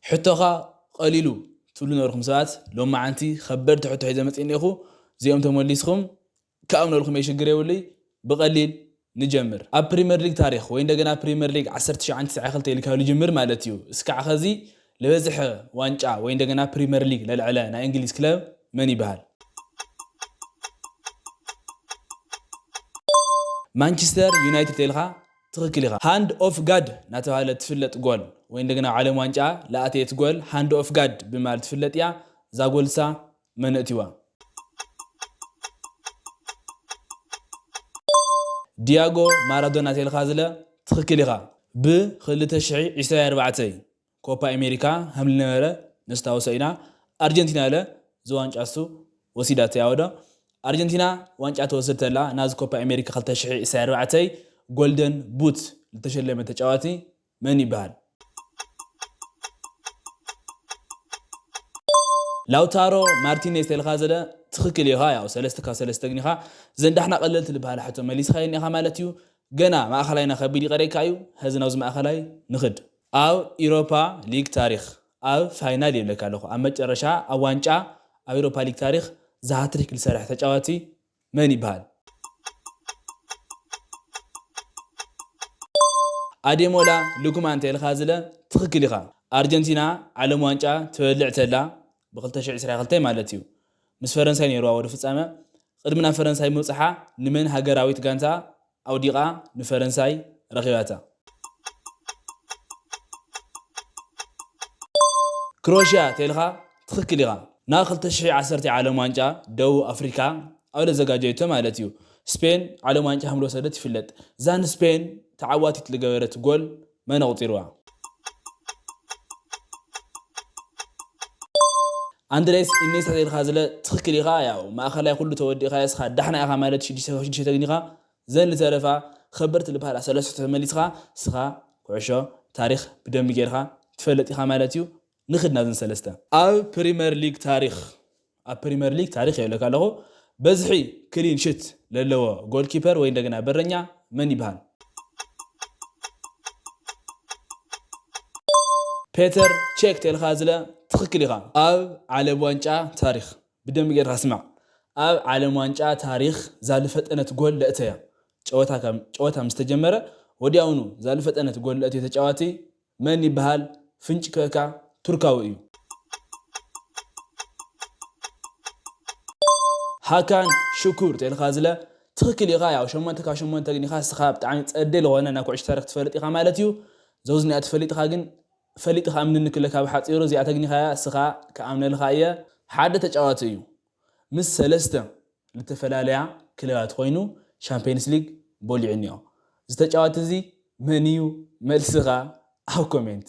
ሕቶኻ ቐሊሉ ትብሉ ነበርኩም ሰባት ሎማዓንቲ ኸበድቲ ሕቶ ሒዘ መፂእ እኒኤኹ እዚኦም ተሞሊስኹም ካኦም ነብልኩም እየ ሽግር የብሉይ ብቐሊል ንጀምር ኣብ ፕሪመር ሊግ ታሪኽ ወይ እንደገና ፕሪመር ሊግ ዓሰርተ ትሽዓን ትስዓ ክልተ ኢልካ ልጅምር ማለት እዩ እስካዕ ኸዚ ልበዝሐ ዋንጫ ወይ እንደገና ፕሪመር ሊግ ለልዐለ ናይ እንግሊዝ ክለብ መን ይብሃል። ማንችስተር ዩናይትድ ተይልኻ ትክክል ኢኻ ሃንድ ኦፍ ጋድ ናተባህለት ትፍለጥ ጎል ወይ እንደገና ኣብ ዓለም ዋንጫ ልኣተየት ጎል ሃንድ ኦፍ ጋድ ብምባል ትፍለጥ እያ እዛ ጎል እሳ መን እእቲዋ? ድያጎ ማራዶና ተልካ ዝለ ትክክል ኢኻ ብ ክልተ ሽሒ ዒስራ ኣርባዕተ እዩ ኮፓ ኤሜሪካ ሀምሊ ነበረ ነስታውሶ ኢና ኣርጀንቲና እለ እዚ ዋንጫሱ ወሲዳቶ እያ ወዶ ኣርጀንቲና ዋንጫ ተወስድ ተላ ናዝ ኮፓ ኤሜሪካ ክልተ ሽሕ ኢሳይ ኣርባዕተይ ጎልደን ቡት ልተሸለመ ተጫዋቲ መን ይበሃል? ላውታሮ ማርቲኔዝ ተልካ ዘለ ትክክል ኢካ ያው ሰለስተ ካብ ሰለስተ ግን ኢካ ዘን ዳሕና ቀለልቲ ልበሃላ ሕቶ መሊስካየን ኢካ ማለት እዩ ገና ማእከላይና ከቢድ ይቀረካ እዩ ሀዚ ናብዚ ማእከላይ ንክድ ኣብ ኢሮፓ ሊግ ታሪኽ ኣብ ፋይናል ይብለካ ኣለኹ ኣብ መጨረሻ ኣብ ዋንጫ ኣብ ኢሮፓ ሊግ ታሪኽ ዛሃትሪክ ልሰርሐ ተጫዋቲ መን ይብሃል? ኣዴሞላ ሉክማን ተልካ ዝለ ትክክል ኢካ ኣርጀንቲና ዓለም ዋንጫ ትበልዕ ተላ ብ ክልተ ሽሕ ዕስራ ክልተ ማለት እዩ ምስ ፈረንሳይ ነይርዋ ወደ ፍጻመ ቅድሚ ናብ ፈረንሳይ ምብጽሓ ንመን ሃገራዊት ጋንታ ኣውዲቓ ንፈረንሳይ ረኺባታ። ክሮሽያ ተልካ ትክክል ኢካ ናብ ክልተ ሽሕን ዓሰርተን ዓለም ዋንጫ ደቡብ ኣፍሪካ ኣብ ለዘጋጀየቶ ማለት እዩ ስፔን ዓለም ዋንጫ ከምልወሰደት ይፍለጥ እዛ ንስፔን ተዓዋቲት ልገበረት ጎል መን ኣቁጺርዋ? ኣንድሬስ ኢኔስታ ዘይልካ ዝለ ትክክል ኢካ ያው ማእከላይ ኩሉ ተወዲእካ እስካ ዳሕና ኢካ ማለት ሽዱሽተ ካብ ሽዱሽተ ተግኒካ ዘን ልተረፋ ከበድቲ ልብሃላ ሰለስቱ ተመሊስካ እስካ ኩዕሾ ታሪክ ብደምቢ ገርካ ትፈልጥ ኢካ ማለት እዩ ንኽድ ናብዘን ሰለስተ። ኣብ ፕሪመር ሊግ ታሪኽ ኣብ ፕሪመር ሊግ ታሪኽ ይብለካ ኣለኹ በዝሒ ክሊን ሽት ለለዎ ጎል ኪፐር ወይ እንደገና በረኛ መን ይብሃል? ፔተር ቼክ ተልካ ዝለ ትኽክል ኢኻ። ኣብ ዓለም ዋንጫ ታሪኽ ብደንቢ ጌርካ ስማዕ ኣብ ዓለም ዋንጫ ታሪኽ ዛልፈጠነት ጎል ለእተያ ጨወታ ጨወታ ምስ ተጀመረ ወዲያውኑ ዛልፈጠነት ጎል ለእተየ ተጫዋቲ መን ይበሃል ፍንጭ ክእካ ቱርካዊ እዩ። ሃካን ሽኩር ተልካ ዝለ ትክክል ኢካ ያው ሸሞንተ ካብ ሸሞንተ ግን ኢካ እስካ ብጣዕሚ ጸዴ ልኮነ ናይ ኩዕሾ ታሪክ ትፈልጥ ኢካ ማለት እዩ ዘውዝ እኒኣ ትፈሊጥካ ግን ፈሊጢ ክኣምነኒ ክለካ ብሓጺሩ እዚኣ ተግኒካያ እስካ ክኣምነልካ እየ ሓደ ተጫዋቲ እዩ ምስ ሰለስተ ልተፈላለያ ክለባት ኮይኑ ሻምፕየንስ ሊግ ቦሊዑኒኦ ዝተጫወትዚ መንዩ መልስኻ ኣብ ኮሜንት።